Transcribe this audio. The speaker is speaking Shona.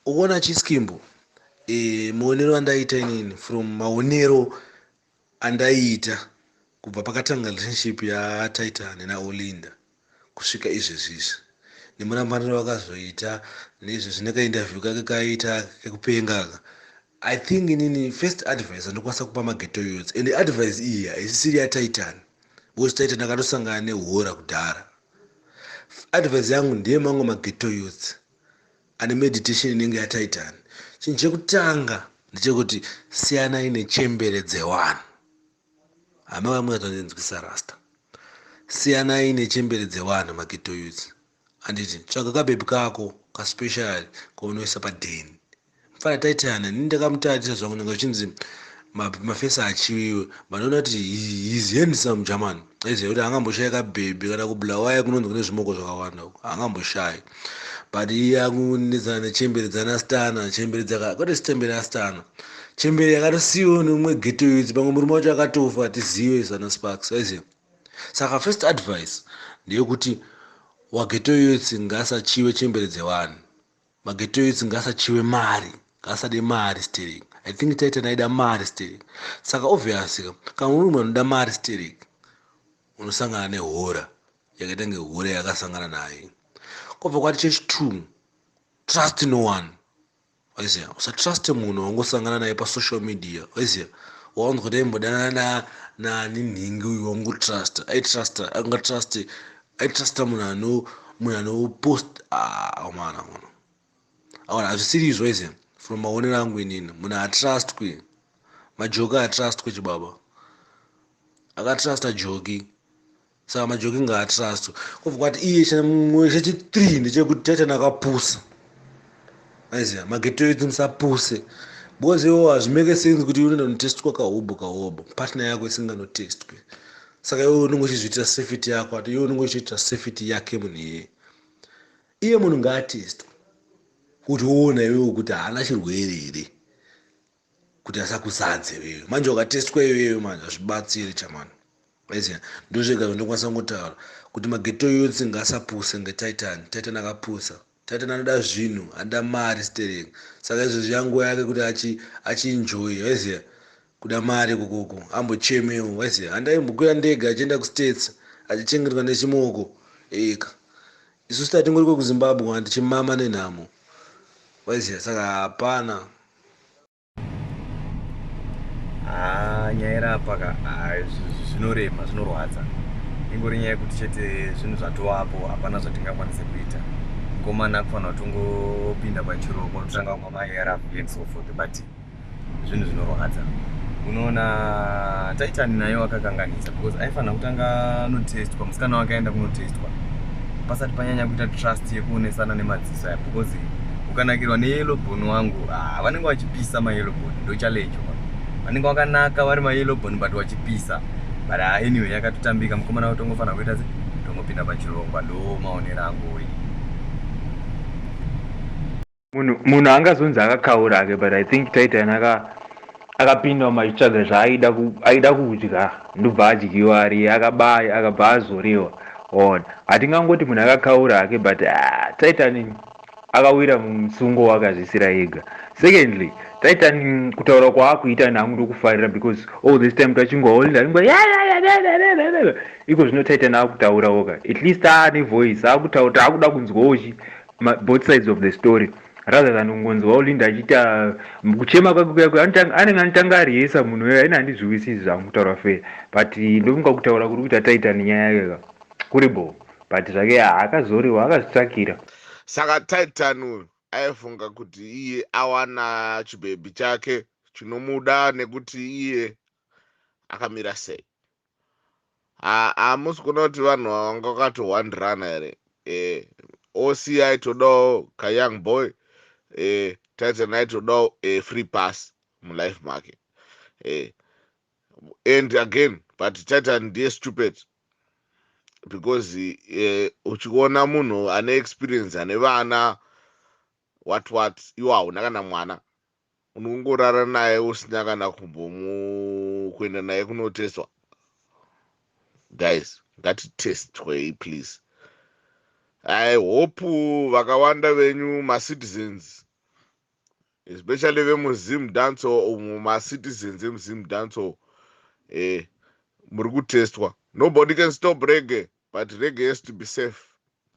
ukuona chiskimbo e, maonero andaiita inini from maonero andaiita kubva pakatanga relationship yataita nena olinda kusvika izvezvizvi nemurambaniro vakazoita nezvezvi nekaindavhyu kake kaiita kekupengaka i think inini first advice andikwanisa kupa mageto yots and advice iyi haisisiri yataitani because taitani akatosangana nehora kudhara Advice yangu ndeye mamwe maghetto youths ane meditation inenge yataitani. Chinhu chekutanga ndechekuti siyanai nechembere dzewanhu. Hama vamwe vatonzwisisa rasta. Siyanai nechembere dzewanhu maghetto youths. Anditi tsvaga kabebi kako kaspecial kaunoisa padheni. mfana taitana ini ndakamutarisa zvangu nanga zvichinzi mafesi achiwiwe vanoona kuti his handsome german aiziva kuti angamboshayi kabhebhi kana kublawaya kunonzi kune zvimoko zvakawanda uko angamboshayi but iye akunetsana nechembere dzanastana chembere dzaka kwete chitembere astana chembere yakatosiyiwo neumwe geto yudzi pamwe murume wacho akatofa tizive sana sparks aiziva saka first advice ndeyekuti wageto yudzi ngasachiwe chembere dzevanhu Magate youths ngasachiwe mari ngaasade mari sterek i think titan aida mari sterek saka obvious ka kana uri munhu anoda mari sterek unosangana nehora yakaita nge hora yakasangana naye kobva kwati chechi two trust no one waiziva usatruste munhu wangosangana naye pasocial media waiziva waunzwa kuti aimbodanana naninhingi uyu wangutrust aitrusta angatruste I trust munhu ano munhu ano post awana ah, munhu awana hazvisiri izvo ise from maonero angu inini munhu atrust kwe majoki atrust kwe chibaba akatrusta joki saka majoki ngaatrust kobva kwati iye chimwe chechi three ndechekuti tete nakapusa aiziva magetero idzi musapuse because iwo hazvimeke sense kuti unoenda kunotestwa kahobho kahobho partner yako isinganotestwe saka iwe unenge uchizviitira safety yako ati iwe unenge uchiitira safety yake munhu iyeye iye munhu ngaatestwe kuti woona iwewo kuti haana chirwere here kuti asakuzadze iwewe manje wakatestwa iwewe manje hazvibatsiri chamani aiziva ndozvega zvandokwanisa kungotaura kuti mageto youth ngaasapuse ngetitan titan akapusa titan anoda zvinhu anoda mari sterek saka izvozvi yanguva yake kuti achienjoy aiziva kuda mari kokoko ambochemewo aiziva handaimbokwira ndege achienda kustates achichengetwa nechimoko eka isu statingori kwekuzimbabwe handichimama nenhamo aiziva saka hapana Ah, nyaya irapa ka ah, zvinorema zvinorwadza ingori nyaya yekuti chete zvinhu zvatovapo hapana zvatingakwanise kuita mukomana kufanira kuti ungopinda pachiroko totanga kumwa maarv and so forth but zvinhu zvinorwadza unoona taitani naye wakakanganisa because aifanira kutanga anotestwa musikana wake aenda kunotestwa pasati panyanya kuita trust yekuonesana nemadziso Sir, because ukanakirwa neyellow bone wangu ah, vanenge vachipisa mayellow bone ndochallenge wa vanenge vakanaka vari mayellow bone but vachipisa but ah, anyway yakatotambika mukomana watongofanira kuita se tongopinda pachirongwa ndo maonero angu oyi munhu munhu angazonzi akakaura ake but i think taita yanaka akapinda umu achitsvaga zvaaida aida kudya ndobva adyiwa ari akabaya akabva azorewa on hatingangoti munhu akakaura hake but ah, titan akawira musungo wakazvisira ega secondly titan kutaura kwaakuita nangu ndokufarira because all this time tachingoholindaringo iko zvino titan akutaurawoka at least aane voice akutaura taakuda kunzwaochi both sides of the story rather than kungonzwa ulinda achiita mm, kuchema kwake kuya kuya anotanga- anenge anotanga ariyesa munhu uya ini handizviwisisi zvangu kutaura fe but ndofunga kutaura kuri kuita taita nenyaya yake ka kuri bho but zvake haakazoriwa akazvitsvakira saka titan uyu aifunga kuti iye awana chibhebhi chake chinomuda nekuti iye akamira sei hamusi kuona kuti vanhu vanga vakatowandirana here eh, oci todawo kayoung boy eh, taitsanai todawo eh, free pass mulife make eh, and again but titan ndiye stupid because eh, uchiona munhu ane experience ane vana what what iwo hauna kana mwana unongorara naye usina kana kumbomu kuenda naye kunotestwa guys ngatitestwei please i hope vakawanda venyu macitizens especially vemuzim danco umo macitizens emuzim danco eh, muri kutestwa nobody can stop rege but rege has to be safe